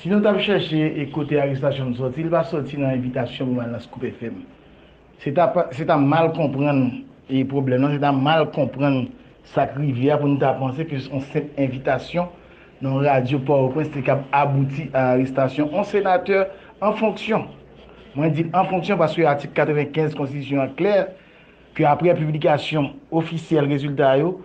Si nou tap chèche e kote arestasyon m sòti, li pa sòti nan envitasyon pou m al nan Scoop FM. Se ta pa, se ta mal konprann e pwoblèm nan, se ta mal konprann sa k rive a pou nou ta panse ke yon senp envitasyon nan yon radyo Pòtoprens te kab abouti a arestasyon yon senatè an fonksyon. Mwen di l an fonksyon paske atik 95 konstitisyon an klè, ke apre piblikasyon ofisyèl rezilta yo,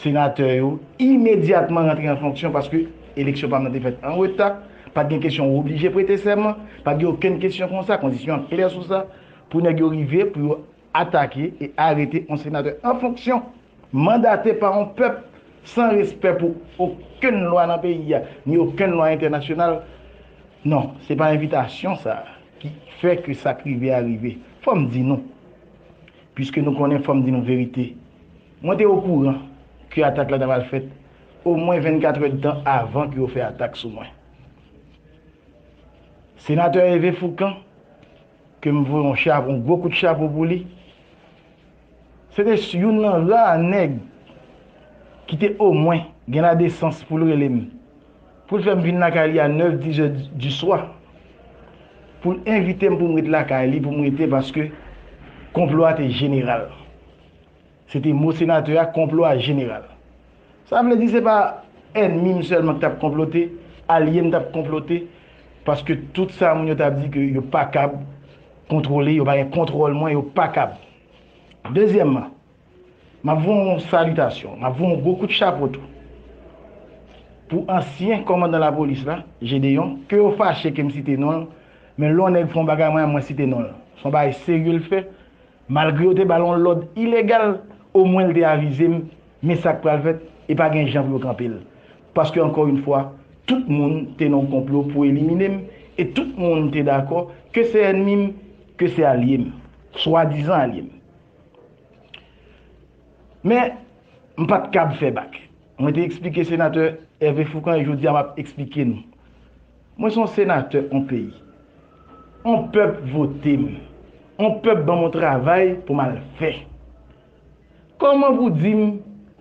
senatè yo imedyatman rantre an fonksyon paske eleksyon pa m nan te fèt an reta, pa t gen kesyon ou oblije prete sèman, pa t gen okenn kesyon konsa, kondisyon an klè sou sa, pou nèg yo rive pou yo atake e arete yon senatè an fonksyon, mandate pa yon pèp, san respè pou okenn lwa nan peyi a, ni okenn lwa entènasyonal, non, se pa envitasyon sa a ki fè ke sa k rive a rive. Fò m di nou. Piske nou konnen, fò m di nou verite. Mwen te okouran ke atak la ta pral fèt omwen 24 èdtan avan ke yo fè atak sou mwen. Senatè Hervé Fourcand, ke m voye yon chapo, yon gwo kout chapo pou li, se te youn nan ra nèg ki te omwen gen ladesans pou l rele m. Pou l fè m vin lakay li a 9, 10 è di swa. Pou l envite m pou m ret lakay li, pou m rete paske konplo a te jeneral. Se te mo senatè a, konplo a jeneral. Sa vle di se pa ènmi m sèlman ki t ap konplote, alye m t ap konplote paske tout sa moun yo t ap di ke yo pa kab kontwole, yo pa gen kontwòl mwen, yo pa kab. Dezyèmman. M ap voye yon salitasyon, m ap voye yon gwo kout chapo tou pou ansyen kòmandan lapolis la, Gédéon, ke yo fache ke m site non l, men lè yon nèg fè yon bagay mwen, mwen site non l. Se yon bagay serye l fè, malgre yo te ba l yon lòd ilegal, omwen l te avize m, men sa k pral fèt, e pa gen jan pou yo kanpe l. Paske ankò yon fwa, tout moun te nan yon konplo pou elimine m, e tout moun te dakò, ke se ènmi m, ke se alye m, swadizan alye m. Men, m pa t kab fè bak. Mwen te eksplike Senatè Hervé Fourcand e jodi a m ap eksplike nou. Mwen se yon Senatè yon peyi. Yon pèp vote m. Yon pèp ban m yon travay pou m al fè. Kòman pou w di m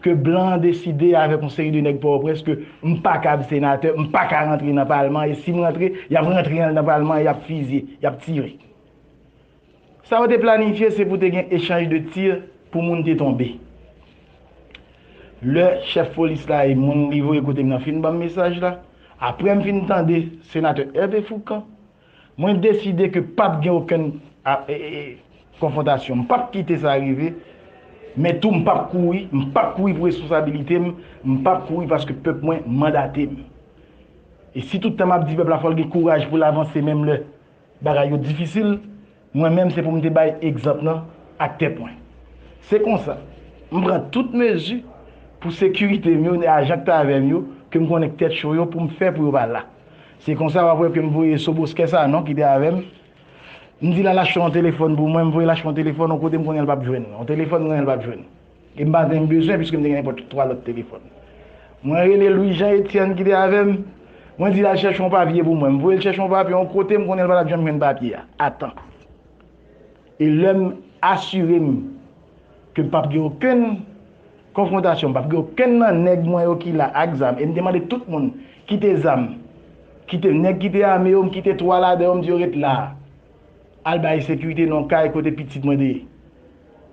ke blan an deside avèk yon seri de nèg Pòtoprens ke m pa kab Senatè, m pa ka rantre nan palman e si m rantre, y ap rantre nan palman e y ap fizye, y ap tire. Sa yo te planifye se pou te gen echanj de tir pou moun te tonbe. Lè chèf polis la e moun li voye kote m nan fin ban m mesaj la, aprè m fin tande Senatè Hervé Fourcand, mwen deside ke p ap gen okenn konfwontasyon. M p ap kite sa rive, men tou m p ap kouri, m p ap kouri pou responsabilite m, m p ap kouri paske pèp mwen mandate m. E si tout tan m ap di pèp la fò l gen kouraj pou l avanse menm lè. Bagay yo difisil, mwen menm se pou m te bay egzanp nan ak tèt mwen. Se konsa, m pran tout mezi pou sekirite m yo ni ajan k t avè m yo ke m konnen k tèt cho yo pou m fè pou yo pa la. Se konsa w ap wè ke m voye Soboskè Sanon ki te avè m, m di l al achte yon telefòn pou mwen, m voye l achte yon telefòn yon kote m konnen l p ap jwenn, yon telefòn m konnen l p ap jwenn. E m pa janm bezwen piske m te gen nenpòt twa lòt telefòn. Mwen rele Lwijan Etyèn ki te avè m, mwen di l al chèche yon papye pou mwen. M voye l chèche yon papye yon kote m konnen l pa t ap janm jwenn papye a a tan. E lè m asire m ke m p ap gen okenn konfwontasyon, m p ap gen okenn nan nèg mwen yo ki la ak zam e m te mande tout moun kite zam, kite nèg ki te ame yo, m kite twa ladan yo m di yo ret la a, al bay sekirite nan yon kay kote pitit mwen te ye.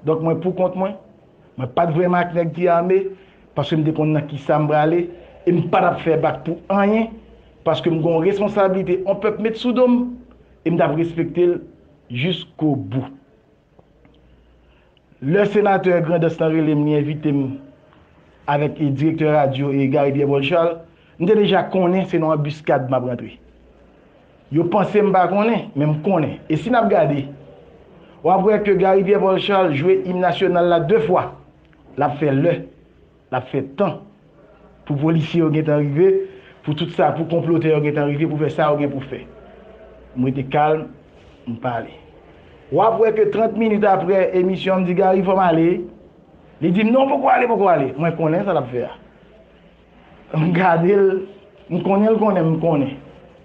Donk mwen pou kont mwen. Mwen pa t vrèman ak nèg ki ame, paske m te konn nan kisa m prale, e m pa t ap fè bak pou anyen, paske m gen yon responsablite yon pèp met sou do m, e m t ap respekte l jiskobou. Lè senatè Grandans lan rele m, li envite m avèk direktè radyo Gary Pierre Paul Charles, m te deja konnen se nan anbiskad m ap rantre. Yo panse m pa konnen, men m konnen. E si n ap gade, w ap wè ke Gary Pierre Paul Charles jwe im nasyonal la de fwa. L ap fè lè, l ap fè tan, pou polisye yo gen tan rive, pou tout sa, pou konplotè yo gen tan rive pou fè sa yo gen pou fè. M rete kalm, m pale. W ap wè ke 30 minit apre emisyon an, m di Gary fò m ale, li di m non poko ale, poko ale. Mwen konnen sa l ap fè a. M gade l, m konnen l konnen m konnen.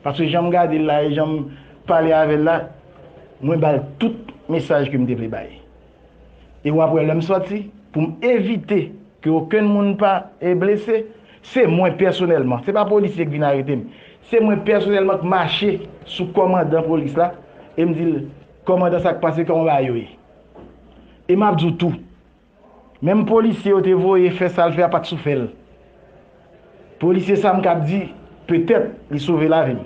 Paske jan m gade l la e jan m pale avè l la, mwen ba l tout mesaj ke m te vle bay. E w ap wè lè m sòti, pou m evite ke okenn moun pa blese, se mwen pèsonèlman, se pa polisye ki vin arete m, se mwen pèsonèlman k mache sou kòmandan polis la e m di l, Kòmandan sa k pase, kòman bagay yo ye? E m ap di w tou, Menm polisye yo te voye fè sal fè a pat sou fèl. Polisye sa mkab di petèt li sove lavim.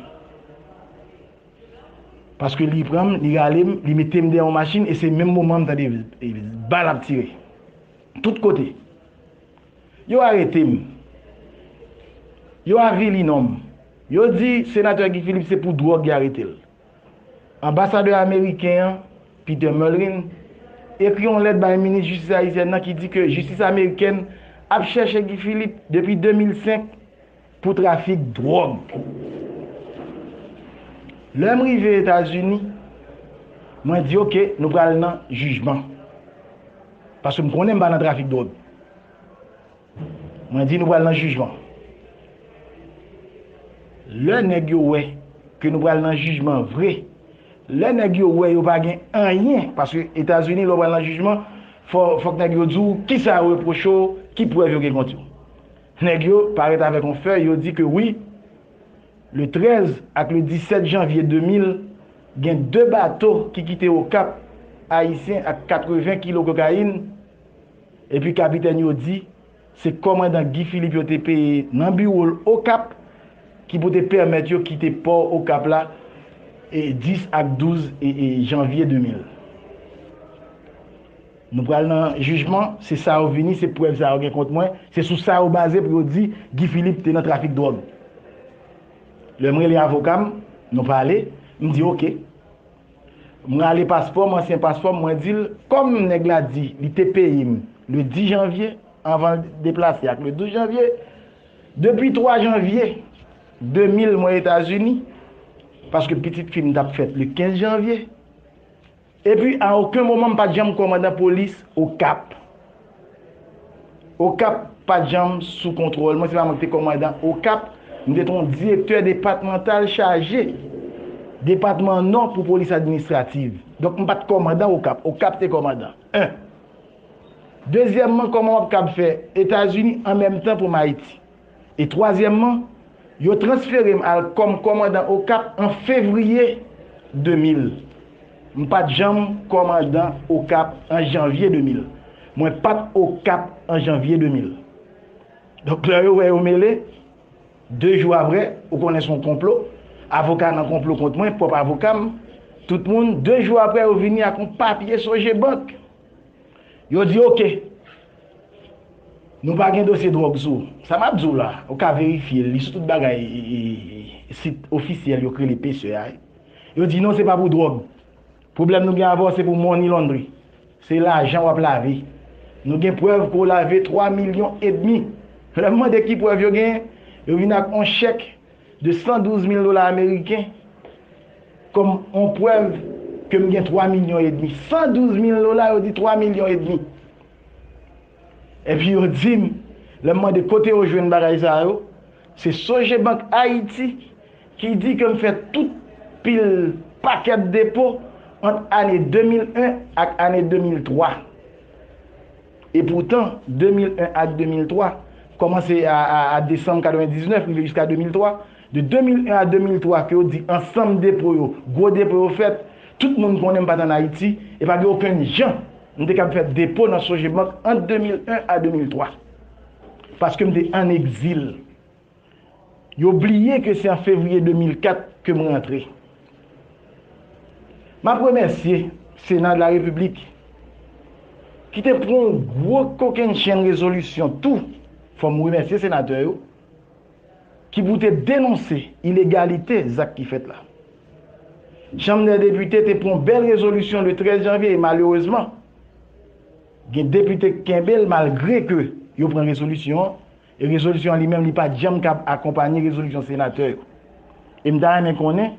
Paske li pranm, li ralem, li metem dèyè yon machin e se menm moman mtande bal ap tire. Tout kote. Yo aretem. Yo avili nonm. Yo di senatè Guy Philippe se pou dwòg y aretel. Anbasadè ameriken an, Peter Mullin, ekri yon lèt bay minis jistis ayisyèn nan ki di ke jistis amerikèn ap chèche Guy Philippe depi 2005 pou trafik dwòg. Lè m rive Etazini, mwen di ok nou pral nan jijman. Paske m konnen m pa nan trafik dwòg. Mwen di nou pral nan jijman. Lè nèg yo wè ke nou pral nan jijman vre, lè nèg yo wè yo pa gen anyen, paske Etazini lè w pral nan jijman, fòk nèg yo di w kisa yo repwoche w, ki prèv yo gen kont yo. Nèg yo parèt avèk yon fèy, yo di ke wi, le 13 ak le 17 janvye 2000, gen 2 bato ki kite Okap, Ayisyen ak 80 kilo kokayin, Epi kapitèn yo di, se kòmandan Guy Philippe yo te peye nan biwo l Okap ki pou te pèmèt yo kite pò Okap la 10 ak 12 janvye 2000. Nou pral nan jijman, se sa yo vini, se prèv sa yo gen kont mwen, se sou sa yo baze pou yo di Guy Philippe te nan trafik dwòg. Lè m rele avoka m, nou pale, m di oke. M rale paspò m ansyen paspò m mwen di l kòm nèg la di li te peye m le 10 janvye anvan l deplase ak le 12 janvye depi 3 janvye 2000 mwen etazini paske pitit fi m t ap fèt le 15 janvye epi a oken moman m pa t janm kòmandan polis okap. Okap pa t janm sou kontwòl mwen, se pa mwen ki te kòmandan Okap, m te ton direktè depatmantal chaje depatman Nò pou polis administrativ. Donk m pa t kòmandan Okap, Okap te kòmandan 1. Dezyèmman kòman w ap kab fè Etazini an menm tan pou m Ayiti? E twazyèmman, yo transfere m al kòm kòmandan Okap an fevriye 2000. M pa t janm kòmandan Okap an janvye 2000. Mwen pa t Okap an janvye 2000. Donk lè yo wè yo mele, de jou aprè, ou konnen s on konplo, avoka nan konplo kont mwen, pwòp avoka m, tout moun, de jou aprè yo vini ak on papye Sogebank. Yo di ok. Nou pa gen dosye drog sou ou. Sa map di w la, ou ka verifye li sou tout bagay sit ofisyèl yo k rele pce a. Yo di non se pa pou drog. Pwoblèm nou gen avè w se pou money laundry. Se lajan wap lave. Nou gen prèv ke w lave 3 milyon edmi. Lè m mande ki prèv yo genyen, yo vin ak on chèk. de 112 mil dola ameriken kòm yon prèv ke m gen 3 milyon edmi. 112 mil dola, yo di 3 milyon edmi. Epi yo di m, lè m mande kote yo jwenn bagay sa yo, se Sogebank Ayiti ki di ke m fè tout pil pakèt depo ant ane 2001 ak ane 2003. E poutan, 2001 ak 2003, kòmanse a a desanm 99 rive jiska 2003, de 2001 a 2003 ke yo di ansanm depo yo, gwo depo yo fèt, tout moun konnen m pa t ann Ayiti, e pa gen okenn jan m te kab fè depo nan Sogebank ant 2001 a 2003. Paske m te ann egzil. Yo bliye ke se an fevriye 2004 ke m rantre. M ap remèsye Sena de la Repiblik ki te pran yon gwo kokennchenn rezolisyon tou, fò m remèsye senatè yo, ki pou te denonse ilegalite zak ki fèt la. Chanm dè Depite te pran yon bèl rezolisyon le 13 janvye e malerezman gen depite k kenbe l malgre ke yo pran rezolisyon an, E rezolisyon an li menm li pa t janm kab akonpanye rezolisyon senatè yo. E m ta renmen konnen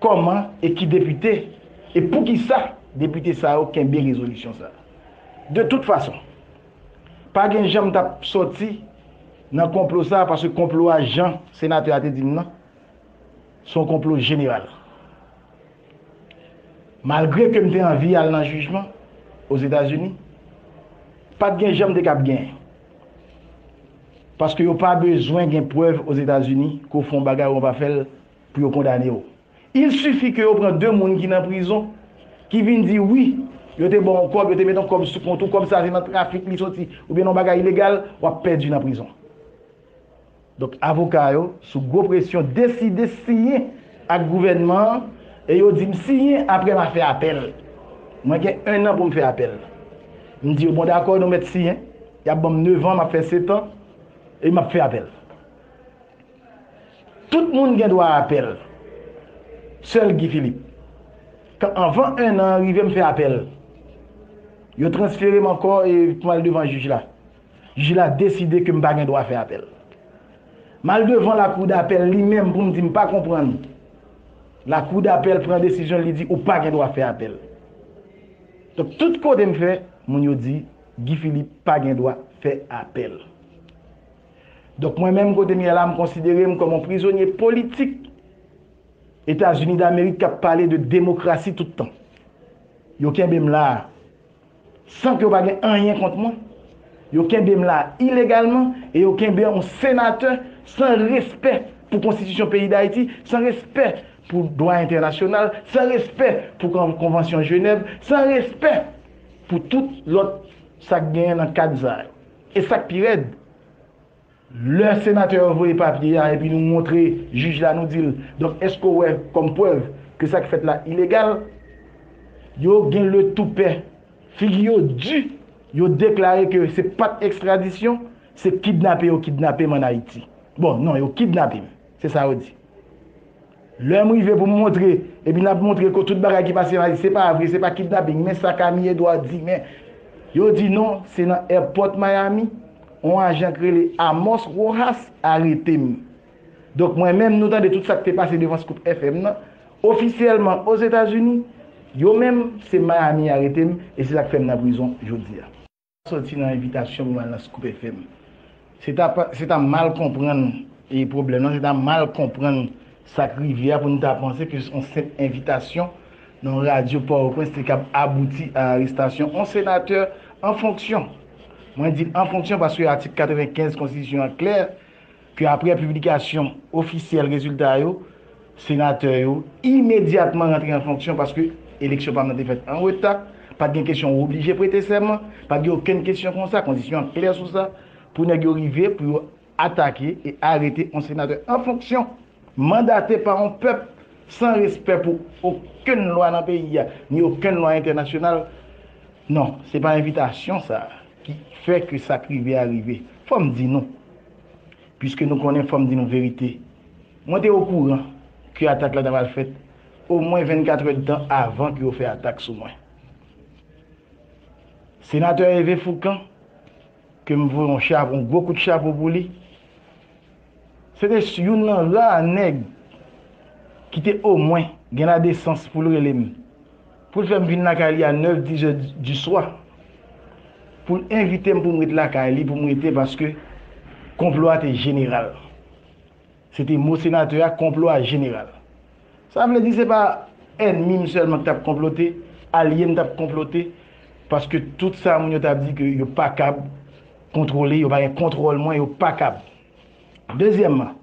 kòman e ki depite e poukisa depite sa yo kenbe rezolisyon sa a. De tout fason, pa gen jan m t ap sòti nan konplo sa a paske konplo a jan senatè a te di m nan, se yon konplo jeneral. Malgre ke m te anvi al nan jijman Ozetazini, pa t gen jan m te kab gen. Paske yo pa bezwen gen prèv Ozetazini ke w fè yon bagay ou an pa fè l pou yo kondane w. Il suffit ke yo pran 2 moun ki nan prizon ki vin di wi yo te ba w yon kòb, yo te met yon kòb sou kont ou, kòb sa se nan trafik li soti oubyen nan yon bagay ilegal, w ap pèdi nan prizon. Donk avoka yo, sou gwo presyon, deside siyen ak gouvènman an e yo di m siyen apre m a fè apèl. Mwen gen ennan pou m fè apèl. M di yo bon dakò nou mèt siyen, y ap ban m nevan, m ap fè setan e m ap fè apèl. Tout moun gen dwa apèl, sèl Guy Philippe, k anvan ennan an rive m fè apèl. Yo transfere m ankò e pou m al devan jij la. Jij la deside ke m pa gen dwa fè apèl. M al devan lakou dapèl li menm pou m di m pa konprann. Lakou dapèl pran desizyon l li di ou pa gen dwa fè apèl. Donk tout kote m fè, moun yo di Guy Philippe pa gen dwa fè apèl. Donk mwen menm kote m ye la m konsidere m kòm yon prizonye politik Etazini Damerik k ap pale de demokrasi tout tan. Yo kenbe m la a. San ke yo pa gen anyen kont mwen, yo kenbe m la ilegalman e yo kenbe yon senatè san respè pou konstitisyon peyi Dayiti, san respè pou dwa entènasyonal, san respè pou konvansyon Jenèv, san respè pou tout lòt sa k genyen nan kad sa yo. E sa k pi rèd, Lè senatè yo voye papye a epi nou montre jij la nou di l, donk èske w wè kòm prèv ke sa ki fèt la ilegal? Yo gen le toupè, figi yo di, yo deklare ke se pat ekstradisyon, se kidnape yo kidnape m an Ayiti. Bon, non, yo kidnape m, se sa yo di. Lèm rive pou m montre epi nap montre ko tout bagay ki pase la se pa vre se pa kidnaping men sa Camille Edouard di men yo di non se nan èpòt Miami on ajan k rele Amos Rojas arete m donk mwen menm nou tande tout sak te pase devan Scoop FM nan ofisyèlman Ozetazini yo menm se Miami arete m e se sak fèm nan prizon jodia. soti nan envitasyon pou m al nan Scoop FM. Se ta pa, se ta mal konprann e pwoblèm lan, se ta mal konprann sa k rive a pou n ta panse ke on senp envitasyon nan yon radyo Pòtoprens te kab abouti a arestasyon on senatè an fonksyon. Mwen di an fonksyon paske atik 95 konstitisyon an klè, ke apre piblikasyon ofisyèl rezilta yo, senatè yo imedyatman rantre an fonksyon paske eleksyon pa m nan te fèt an reta, pa t gen kesyon ou oblije prete sèman, pa t gen okenn kesyon konsa, kondisyon an klè sou sa, pou nèg yo rive pou yo atake e arete yon senatè an fonksyon, mandate pa yon pèp, san respè pou okenn lwa nan peyi a, ni okenn lwa entènasyonal, non, se pa envitasyon sa a ki fè ke sa k rive a rive. Fò m di nou, Pwiske nou konnen, fò m di nou verite. Mwen te okouran ke atak la ta pral fèt omwen 24 èdtan avan ke yo fè atak sou mwen. Senatè Hervé Fourcand, ke m voye yon chapo, yon gwo kout chapo pou li, se te youn nan ra nèg ki te omwen gen ladesans pou l rele m. Pou l fè m vin lakay li a nèf dizè diswa. Pou l envite m pou m ret lakay li pou m rete paske konplo a te jeneral. Se te mo senatè a, konplo a jeneral. Sa vle di se pa ènmi m sèlman ki t ap konplote, alye m t ap konplote paske tout sa moun yo t ap di ke yo pa kab kontwole, yo pa gen kontwòl mwen, yo pa kab. Dezyèmman.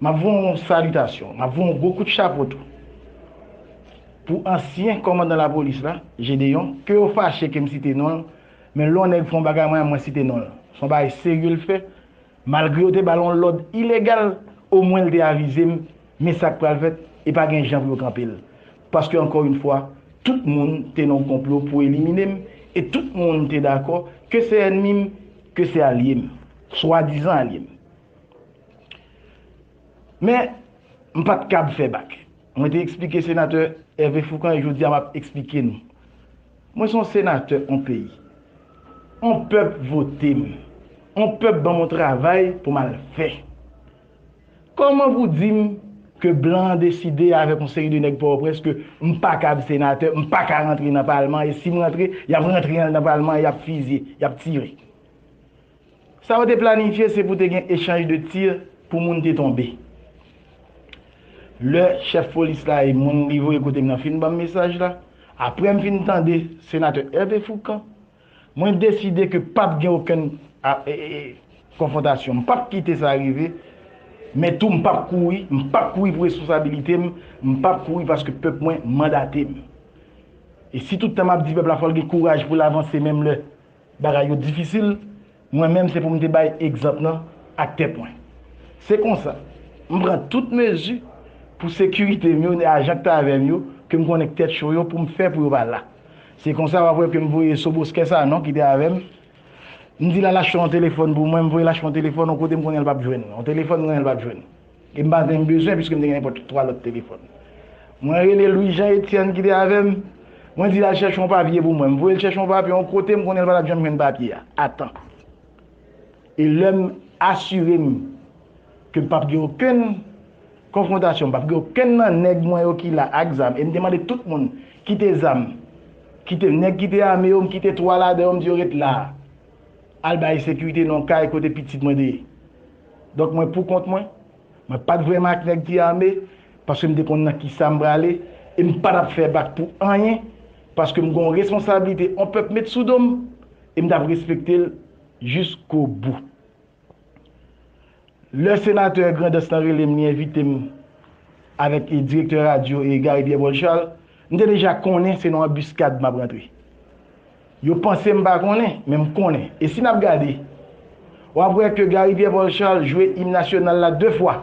M ap voye yon salitasyon, m ap voye yon gwo kout chapo tou pou ansyen kòmandan lapolis la, Gédéon, ke yo fache ke m site non l, men lè yon nèg fè yon bagay mwen, mwen site non l. Se yon bagay serye l fè, malgre yo te ba l yon lòd ilegal, omwen l te avize m, men sa k pral fèt, e pa gen jan pou yo kanpe l. Paske ankò yon fwa, tout moun te nan yon konplo pou elimine m, e tout moun te dakò, ke se ènmi m, ke se alye m, swadizan alye m, Men, m pa t kab fè bak. Mwen te eksplike Senatè Hervé Fourcand e jodi a m ap eksplike nou. Mwen se yon Senatè yon peyi. Yon pèp vote m. Yon pèp ban m yon travay pou m al fè. Kòman pou di m ke blan an deside avèk yon seri de nèg Pòtoprens ke m pa kab Senatè, m pa ka rantre nan Palman e si m rantre, y ap rantre nan Palman an, y ap fizye, y ap tire. Sa yo te planifye se pou te gen echanj de tir pou moun te tonbe. Lè chèf polis la e moun li voye kote m nan fin ban m mesaj la, aprè m fin tande Senatè Hervé Fourcand, mwen deside ke p ap gen okenn konfwontasyon. M p ap kite sa rive, men tou m p ap kouri. M p ap kouri pou responsabilite m, m p ap kouri paske pèp mwen mandate m. E si tout tan m ap di pèp la fò l gen kouraj pou l avanse menm lè Bagay yo difisil, mwen menm se pou m te bay egzanp nan ak tèt mwen. Se konsa, m pran tout mezi pou sekirite m yo ni ajan k t avè m yo ke m konnen k tèt cho yo pou m fè pou yo pa la. Se konsa w ap wè ke m voye Soboskè Sanon ki te avè m, m di l al achte yon telefòn pou mwen, m voye l achte yon telefòn yon kote m konnen l p ap jwenn, yon telefòn m konnen l p ap jwenn. E m pa menm bezwen piske m te gen nenpòt twa lòt telefòn. Mwen rele Lwijan Etyèn ki te avè m, mwen di l al chèche yon papye pou mwen. M voye l chèche yon papye yon kote m konnen l pa t ap janm jwenn papye a a tan. E lè m asire m ke m p ap gen okenn konfwontasyon, m p ap gen okenn nan nèg mwen yo ki la ak zam, e m te mande tout moun kite zam, kite nèg ki te ame yo, m kite twa ladan yo m di yo ret la a, al bay sekirite nan yon kay kote pitit mwen te ye. Donk mwen pou kont mwen. Mwen pa t vrèman ak nèg ki ame paske m te konn nan kisa m prale e m pa t ap fè bak pou anyen paske m gen yon responsablite yon pèp met sou do m e m t ap respekte l jiskobou. Lè senatè Grandans lan rele m li envite m avèk direktè radyo Gary Pierre Paul Charles, m te deja konnen se nan anbiskad m ap rantre. Yo panse m pa konnen, men m konnen. E si n ap gade, w ap wè ke Gary Pierre Paul Charles jwe im nasyonal la de fwa.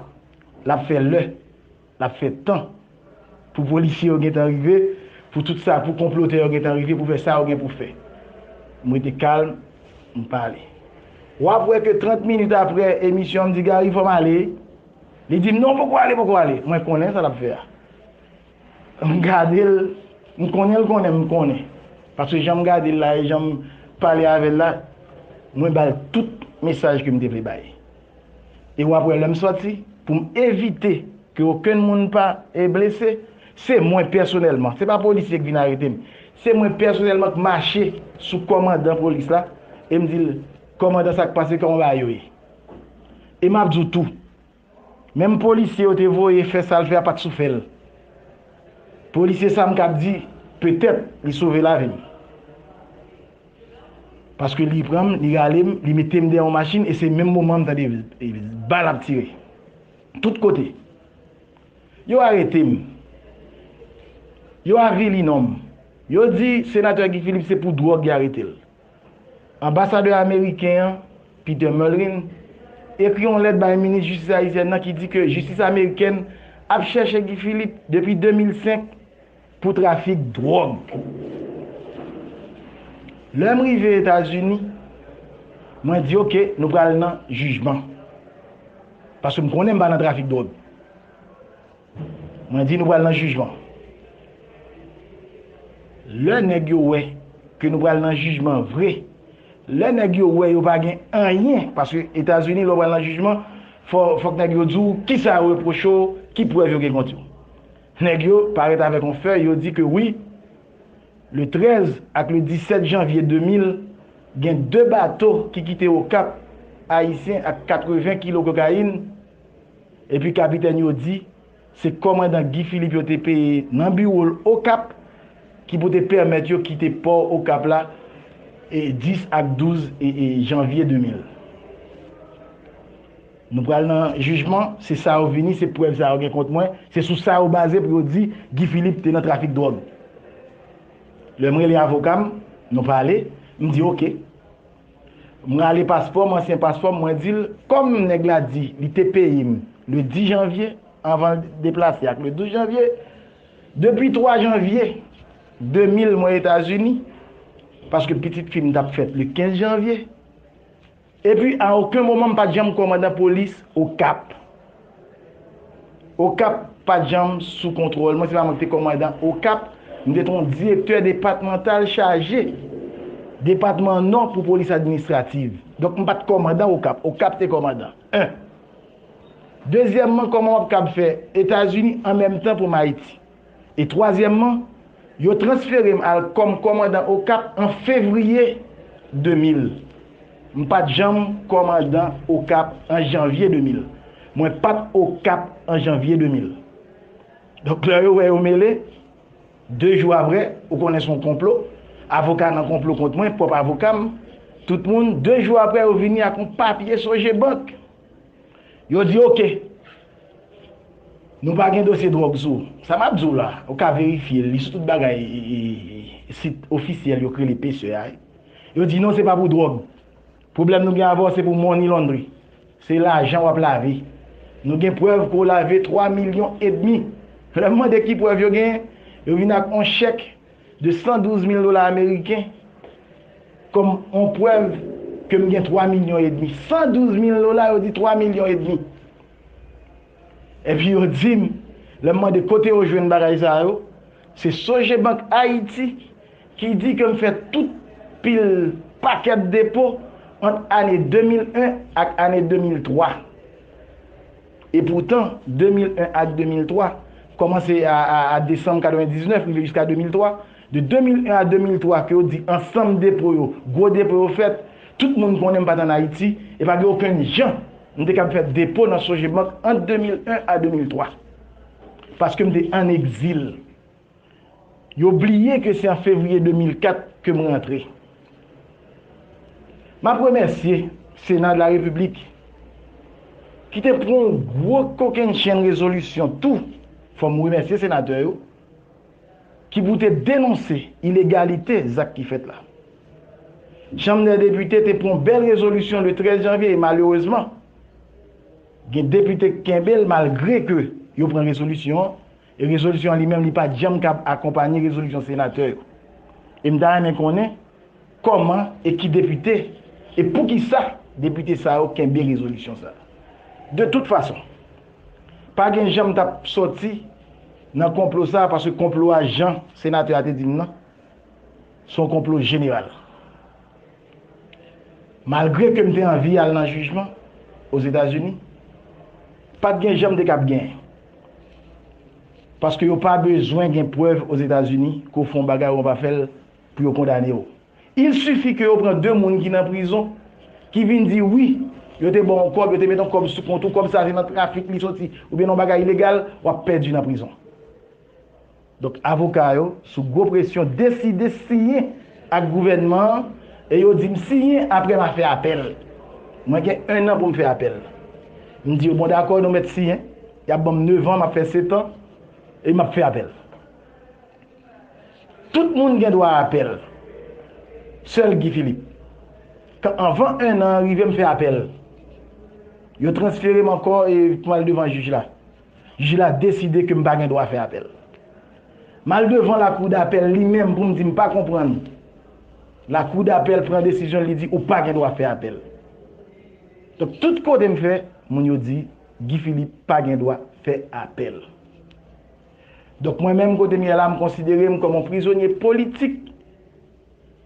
L ap fè lè, l ap fè tan, pou polisye yo gentan rive, pou tout sa, pou konplotè yo gentan rive pou fè sa yo gen pou fè. M rete kalm, m pale. W ap wè ke 30 minit apre emisyon an, m di Gary fò m ale, li di m non poko ale, poko ale. Mwen konnen sa l ap fè a. M gade l, m konnen l konnen m konnen. Paske jan m gade l la e jan m pale avè l la, mwen ba l tout mesaj ke m te vle bay. E w ap wè lè m sòti, pou m evite ke okenn moun pa blese, se mwen pèsonèlman, se pa polisye k vin arete m, se mwen pèsonèlman k mache sou kòmandan polis la e m di l, Kòmandan sa k pase, kòman bagay yo ye? E m ap di w tou, Menm polisye yo te voye fè sal fè a pat sou fèl. Polisye sa m kab di petèt li sove lavi m. Paske li pran m, li rale m, li mete m dèyè yon machin e se menm moman m tande bal ap tire. Tout kote. Yo arete m. Yo avili non m. Yo di Senatè Guy Philippe se pou dwòg y arete l. Anbasadè ameriken an, Peter Mullin, ekri yon lèt bay minis jistis ayisyèn nan ki di ke jistis amerikèn ap chèche Guy Philippe depi 2005 pou trafik dwòg. Lè m rive Etazini, mwen di ok nou pral nan jijman. Paske m konnen m pa nan trafik dwòg. Mwen di nou pral nan jijman. Lè nèg yo wè ke nou pral nan jijman vre, lè nèg yo wè yo pa gen anyen, paske Etazini lè w pral nan jijman, fòk nèg yo di w kisa yo repwoche w, ki prèv yo gen kont yo. Nèg yo parèt avèk yon fèy, yo di ke wi, le 13 ak le 17 janvye 2000, gen 2 bato ki kite Okap, Ayisyen ak 80 kilo kokayin, Epi kapitèn yo di, se kòmandan Guy Philippe yo te peye nan biwo l Okap ki pou te pèmèt yo kite pò Okap la 10 ak 12 janvye 2000. Nou pral nan jijman, se sa yo vini, se prèv sa yo gen kont mwen, se sou sa yo baze pou yo di Guy Philippe te nan trafik dwòg. Lè m rele avoka m, nou pale, m di ok, M rale paspò m, ansyen paspò m, mwen di l, kòm nèg la di li te peye m le 10 janvye, anvan l deplase ak le 12 janvye, depi 3 janvye 2000 mwen Etazini, paske pitit fi m t ap fèt le 15 janvye, epi a oken moman m pa t janm kòmandan polis Okap. Okap pa t janm sou kontwòl mwen, se pa mwen ki te kòmandan Okap, mwen te ton direktè depatmantal chaje depatman Nò pou polis administrativ. Donk mwen pa t kòmandan Okap, Okap te kòmandan. 1. Dezyèmman kòman w ap kab fè Etazini an menm tan pou m Ayiti? E twazyèmman, yo transfere m al kòm kòmandan Okap an fevriye 2000. M pa t janm kòmandan Okap an janvye 2000. Mwen pa t Okap an janvye 2000. Donk lè yo wè yo mele, de jou aprè, ou konnen s on konplo, avoka nan konplo kont mwen, pwòp avoka m, tout moun, de jou aprè yo vini ak on papye Sogebank. Yo di ok. Nou pa gen dosye drog sou ou. Sa map di w la, ou ka verifye li sou tout bagay sit ofisyèl yo k rele pce a. Yo di non se pa pou drog. Pwoblèm nou gen avè w se pou money laundry. Se lajan wap lave. Nou gen prèv ke w lave 3 milyon edmi. Lè m mande ki prèv yo genyen, yo vin ak on chèk. de 112 mil dola ameriken kòm yon prèv ke m gen 3 milyon edmi. 112 mil dola, yo di 3 milyon edmi. Epi yo di m, lè m mande kote yo jwenn bagay sa yo, se Sogebank Ayiti ki di ke m fè tout pil pakèt depo ant ane 2001 ak ane 2003. E poutan, 2001 ak 2003, kòmanse a desanm 99 rive jiska 2003, de 2001 a 2003 ke yo di ansanm depo yo, gwo depo yo fèt, tout moun konnen m pa t ann Ayiti, e pa gen okenn jan m te kab fè depo nan Sogebank ant 2001 a 2003. Paske m te ann egzil. Yo bliye ke se an fevriye 2004 ke m rantre. M ap remèsye Sena de la Repiblik ki te pran yon gwo kokennchenn rezolisyon tou, fò m remèsye senatè yo, ki pou te denonse ilegalite zak ki fèt la. Chanm dè Depite te pran yon bèl rezolisyon le 13 janvye e malerezman gen depite k kenbe l malgre ke yo pran rezolisyon an, E rezolisyon an li menm li pa t janm kab akonpanye rezolisyon senatè yo. E m ta renmen konnen kòman e ki depite e poukisa depite sa yo kenbe rezolisyon sa. De tout fason, pa gen jan m t ap sòti nan konplo sa paske konplo a jan senatè a te di m nan, s on konplo jeneral. Malgre ke m te anvi al nan jijman Ozetazini, pa t gen jan m te kab genyen. Paske yo pa bezwen gen prèv Ozetazini ke w fè yon bagay ou an pa fè l pou yo kondane w. Il sifi ke yo pran de moun ki nan prizon ki vin di wi, yo te ba w yon kòb, yo te met yon kòb sou kont ou, kòb sa se nan trafik li soti oubyen nan yon bagay ilegal, w ap pèdi nan prizon. Donk avoka yo, sou gwo presyon, deside siyen ak gouvènman an e yo di m siyen apre m a fè apèl. Mwen gen ennan pou m fè apèl. M di yo bon dakò nou mèt siyen, y ap ban m nevan, m ap fè setan e m ap fè apèl. Tout moun gen dwa apèl, sèl Guy Philippe, k anvan ennan an rive m fè apèl. Yo transfere m ankò e pou m al devan jij la. Jij la deside ke m pa gen dwa fè apèl. M al devan lakou dapèl li menm pou m di m pa konprann. Lakou dapèl pran desizyon l li di ou pa gen dwa fè apèl. Donk tout kote m fè, moun yo di Guy Philippe pa gen dwa fè apèl. Donk mwen menm kote m ye la m konsidere m kòm yon prizonye politik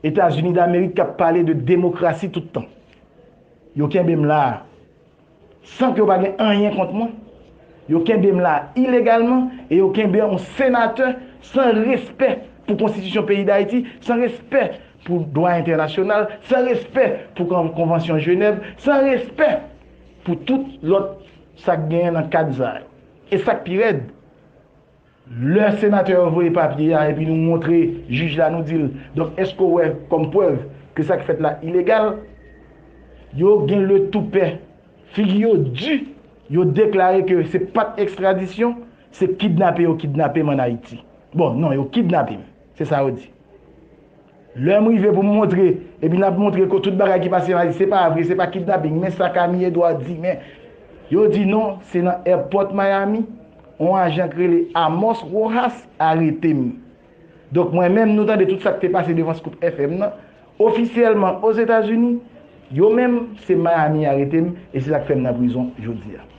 Etazini Damerik k ap pale de demokrasi tout tan. Yo kenbe m la a. San ke yo pa gen anyen kont mwen, yo kenbe m la ilegalman e yo kenbe yon senatè san respè pou konstitisyon peyi Dayiti, san respè pou dwa entènasyonal, san respè pou konvansyon Jenèv, san respè pou tout lòt sa k genyen nan kad sa yo. E sa k pi rèd, Lè senatè yo voye papye a epi nou montre jij la nou di l, donk èske w wè kòm prèv ke sa ki fèt la ilegal? Yo gen le toupè, figi yo di, yo deklare ke se pat ekstradisyon, se kidnape yo kidnape m an Ayiti. Bon, non, yo kidnape m, se sa yo di. Lè m rive pou m montre, epi n ap montre ke tout bagay ki pase nan Ayiti se pa vre, se pa kidnaping, men sa Camille Edouard di, men yo di non, se nan èpòt Miami, yon ajan ki rele Amos Rojas arete m. Donk mwen menm, nou tande tout sa ki te pase devan Scoop FM nan, ofisyèlman Ozetazini, yo menm, se Miami arete m, e se sa ki fè m nan prizon jodi a.